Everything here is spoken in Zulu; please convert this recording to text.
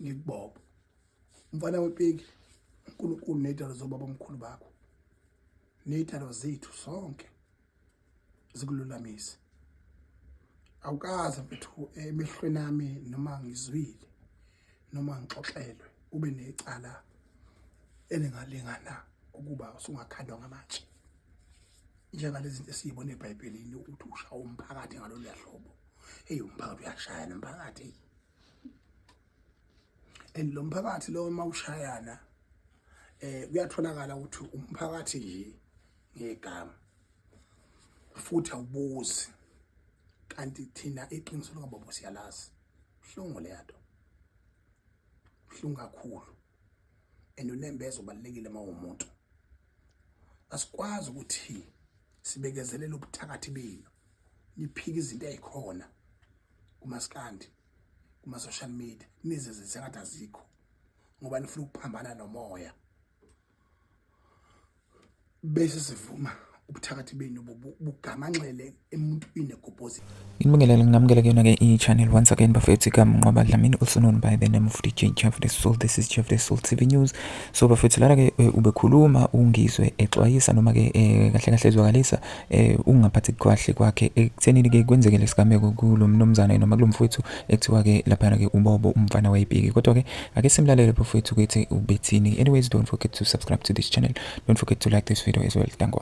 ngikubobo mfana wepiki uNkulunkulu nezidalo zobaba omkhulu bakho nezidalo zethu sonke zikululamise awukaze mfethu emehlweni nami noma ngizwile noma ngixoxelwe ube necala elingalingana ukuba usungakhandwa ngamatshe njengalezi zinto esiyibona eBhayibhelini ukuthi ushawa umphakathi ngalolu hlobo hey umphakathi uyashaya nomphakathi and lo mphakathi lo uma ushayana eh kuyatholakala ukuthi umphakathi nje ngegama futhi awubuzi kanti thina iqiniso likababa siyalazi buhlungu leyato buhlungu kakhulu and unembeza ubalekile uma umuntu asikwazi ukuthi sibekezelele ubuthakathi benu niphika izinto ezikhona kumaskandi kuma social media nize zengathi azikho ngoba nifuna ukuphambana nomoya bese sivuma ubuthakathi benu bugamanxele emuntwini egobhozi inibingelele ngingamukele kuyona ke i-channel once again bafethu igama nqoba dlamini also known by the name of dj jeff the soul this is jeff the soul tv news so bafethu lana ke eh, ubekhuluma ungizwe exwayisa noma ke eh, kahle kahle ezwakalisa eh ukungaphathi kwahle kwakhe ekuthenini ke kwenzeke lesigameko kulo mnomzana noma kulomfowethu ekuthiwa ke lapha ke ubobo umfana wayipiki kodwa ke ake simlalele bafowethu ukuthi ubethini anyways don't forget to subscribe to this channel don't forget to like this video as well thank you